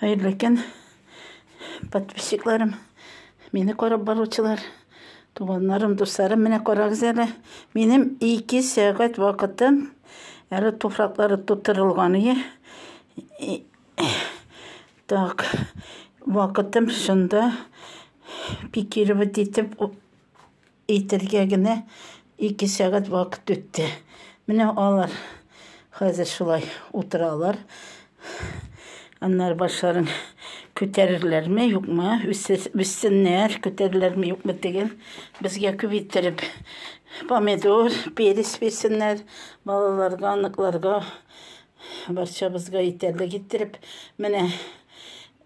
Хәерле көн, подписчикларым, мине карап баручылар, туганнарым, дусларым, менә карагыз әле, минем ике сәгать вакытым әле туфраклары тутырылган ие. Так, вакытым шунда пикировать итеп Әйтергә генә ике сәгать вакыт үтте. Менә алар хәзер шулай утыралар. Аннары башларын күтәрерләрме, юкмы, үссеннәр, күтәрерләрме, юкмы тегел. Безгә күп иттереп помидор, перец бирсеннәр, балаларга, аныкларга, барчабызга итәрлек иттереп. Менә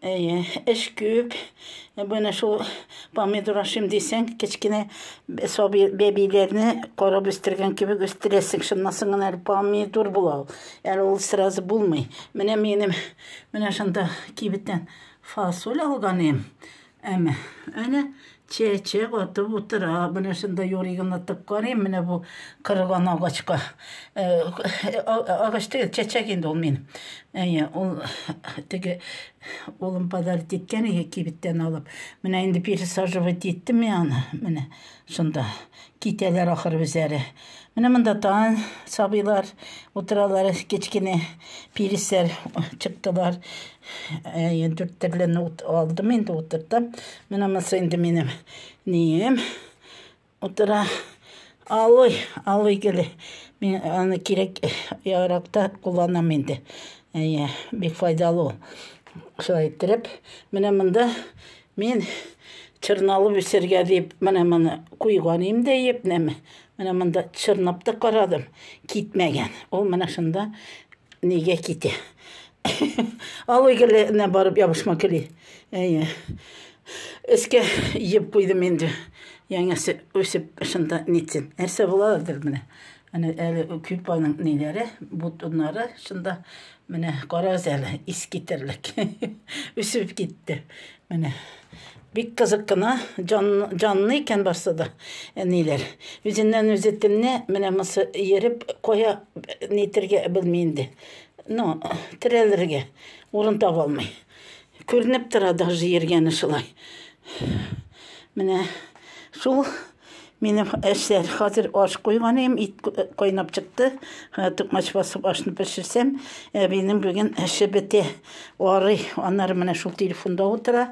Әйе, эш күп. Менә шул помидор ашыйм дисәң, кечкенә сабый бәбиләрне карап үстергән кебек үстерәсең. Шуннан соң гына әле помидор була ул. Әле ул сразу булмый. Менә минем менә шунда кибеттән фасоль алган идем. Әмма әнә Чәчәк атып утыра. Менә шунда юригын атып карыйм, менә бу кырылган агачка. Э, агач түгел, чәчәк инде ул мин. Әйе, ул теге улым подарить иткән иде кибеттән алып. Менә инде пересаживать иттем мин аны. Менә шунда. Китәләр ахыр үзләре. Менә монда тан сабыйлар утыралар, кечкенә пирисләр чыктылар. Әйе, дүрт төрлен алдым инде утыртам. Менә монысы инде минем нием утыра. Алый, алый геле. Мин аны кирәк яракта кулланам инде. Әйе, бик файдалы ул. Шулай иттереп, менә монда Мин чырналып үсергә дип, менә моны куйган идем дә епнеме. Менә монда чырнап та карадым, китмәгән. Ул менә шунда нигә китә. Алый геленә барып ябышма кели. Әйе. Эскә еп куйдым инде. Яңасы үсеп шунда нитсен. Нәрсә буладыр менә. Аны әле күп аның ниләре, бутыннары шунда Менә карагыз әле, искитерлек. Үсеп китте. Менә бик кызык кына, җанлы икән барсы да, әниләр. Үзеннән үзе телне менә мосы ереп кая нитергә белми инде. Ну, терәлергә урын таба алмый. Күренеп тора даже йөргәне шулай. Менә шул минем эшләр. Хәзер аш куйган идем, ит кайнап чыкты. Тукмач басып ашны пешерсәм, әбинең бүген эше бетә. Арый, аннары менә шул телефонда утыра.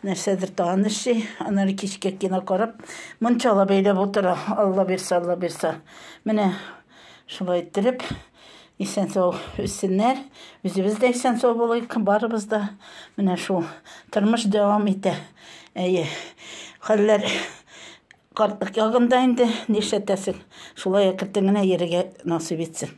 Нәрсәдер тагын эшли, аннары кичкә кино карап, мунчала бәйләп утыра. Алла бирсә, Алла бирсә. Менә шулай иттереп Исән сау үссеннәр, үзебез дә исән сау булыйк, барыбыз да. Менә шул тормыш дәвам итә. Әйе, хәлләр картлык ягында инде, нишләтәсең. Шулай әкертен генә йөрергә насыйп итсен.